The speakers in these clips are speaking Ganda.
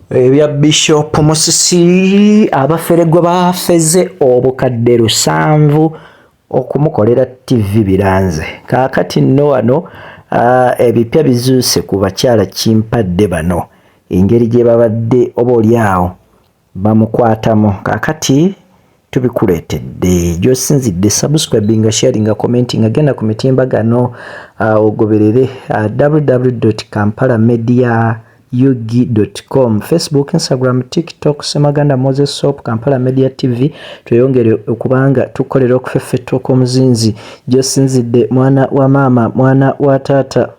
ebya bishop musisi abafere gwe bafeze obukadde lusanvu okumukolera ttivi biranze kaakati nno wano ah, ebipya bizuuse ku bakyala kimpadde bano engeri gye babadde oba oli awo Bamukwatamu kakati tubikuletedde gyosinzidde subscribinga sharinga commentinga genda ku mitimbagano uh, ogoberere uh, www kampala media ug.com facebook instagram tiktok semaganda moses sop kampala media tv tweyongere okubanga tukolera okufeffetta okw'omuzinzi gyosinzidde mwana wa maama mwana wa taata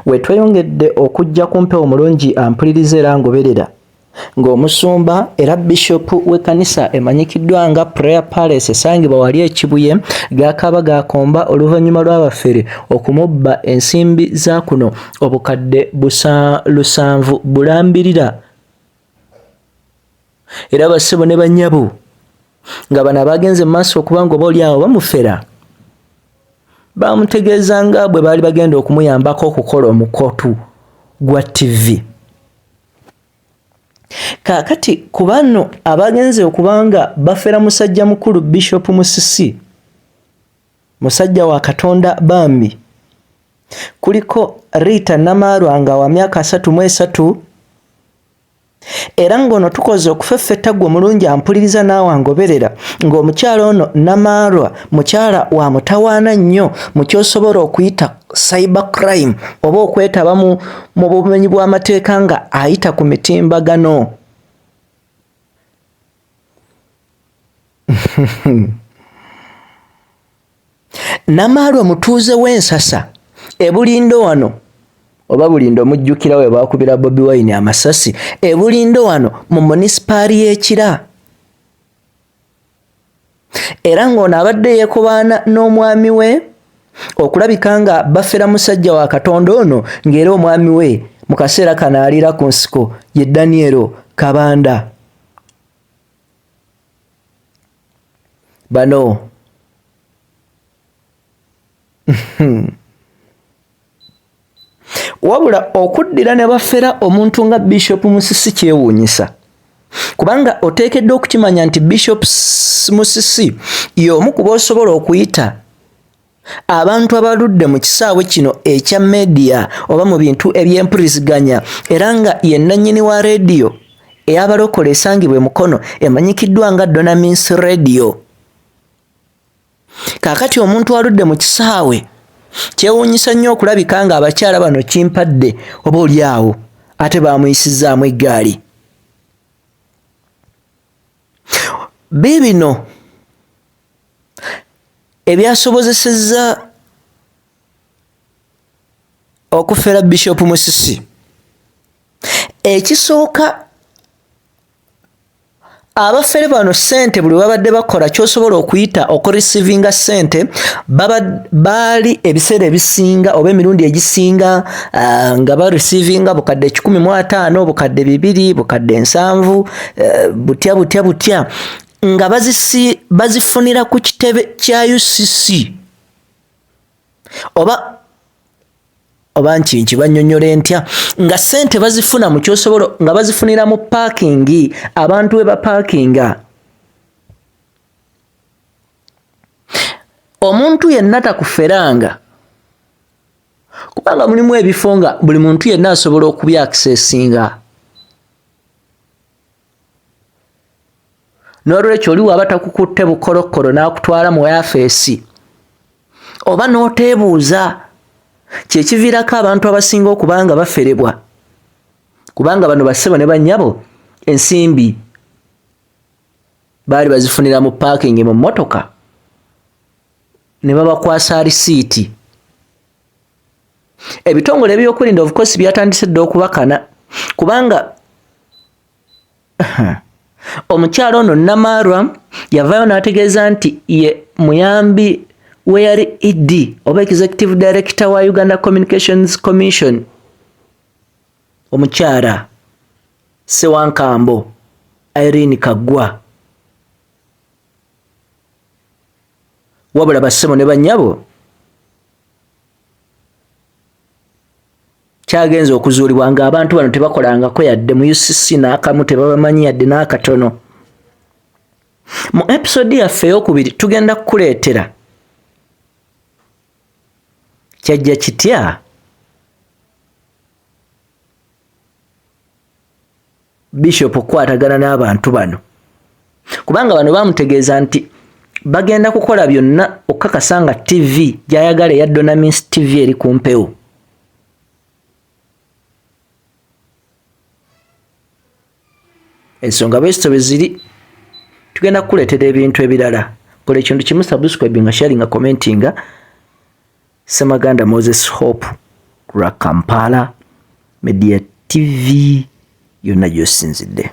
Wetweyongedde okujja ku mpewo mulungi ampuliriza era ngoberera ng'omusumba era bishop w'ekkanisa emanyikiddwa nga prayer palace esangibwa wali ekibuye gaakaaba gaakomba oluvannyuma lw'abafere okumubba ensimbi za kuno obukadde busa lusanvu bulambirira era bassebo ne bannyabo nga bano abagenze maaso okubanga oba olyawo bamufera bamutegeeza nga bwe baali bagenda okumuyambako okukola omukotu gwa tivi kaakati ku bano abagenze okubanga bafera musajja mukulu bishopu musisi musajja wa katonda bambi kuliko rita namaarwa nga wa myaka asatu mu esatu era ng'ono tukoze okufeffetta gwe mulungi ampuliriza naawe angoberera ng'omukyala ono namaarwa mukyala wa mutawaana nnyo mu kyosobola okuyita cyber crime oba okwetaba mu bumenyi bw'amateeka nga ayita ku mitimbagano Namaali omutuuze w'ensasa ebulindo wano oba bulindo omujjukira we baakubira bobi wine amasasi ebulindo wano mu munisipaali y'ekira era ng'ono abadde yeekobaana n'omwami we okulabika nga bafera musajja wa katonda ono ng'era omwami we mu kaseera kano aliira ku nsiko ye danielo kabanda bano wabula okuddira ne bafera omuntu nga bishop musisi kyewuunyisa kubanga oteekeddwa okukimanya nti bishop musisi y'omu kuba osobola okuyita abantu abaludde mu kisaawe kino ekya media oba mu bintu eby'empuliziganya era nga yennannyini wa rediyo eyabalokola esangibwa emukono emanyikiddwa nga donamins rediyo kaakati omuntu aludde mu kisaawe kyewuunyisa nnyo okulabika nga abakyala bano kimpadde oba oli awo ate baamuyisizzaamu eggaali biibino ebyasobozesezza okufera bishop musisi ekisooka abafere bano sente buli babadde bakola kyosobola okuyita okurisivinga sente baali ebiseera ebisinga oba emirundi egisinga uh, nga barisivinga bukadde ekikumi mu ataano bukadde bibiri bukadde nsanvu uh, butya butya butya nga bazifunira ku kitebe kya ucc oba oba nkinki banyonyole ntya nga sente bazifuna mu kyosobola nga bazifunira mu paakingi abantu we bapaakinga omuntu yenna takuferanga kubanga mulimu ebifo nga buli muntu yenna asobola okubyakisesinga n'olwekyo oli waba takukutte bukolokkolo n'akutwala mu yafeesi oba n'oteebuuza kyekiviirako abantu abasinga okuba nga baferebwa kubanga bano bassebo ne bannyabo ensimbi baali bazifunira mu paakingi mu mmotoka ne babakwasa alisiiti ebitongole ebyokwerinda of course byatandise dda okubakana kubanga omukyalo ono namaarwa yavaayo n'ategeeza nti ye muyambi we yali ed oba executive director wa uganda communications commission omukyala sewankambo irene kaggwa wabula bassebo ne bannyabo kyagenze okuzuulibwa nga abantu bano tebakolangako yadde mu ucc n'akamu tebabamanyi yadde n'akatono mu episode yaffe eyokubiri tugenda kukuleetera kyajja kitya bishop okukwatagana n'abantu bano kubanga bano bamutegeeza nti bagenda kukola byonna okukakasa nga tv gyayagala eya donamins tv eri ku mpewo ensonga bwezito bweziri tugenda kukuleetera ebintu ebirala kola ekintu kimu subscribinga sharinga commentinga Ssemaganda Moses Hope ku lwa Kampala Media TV yonna gy'osinzidde.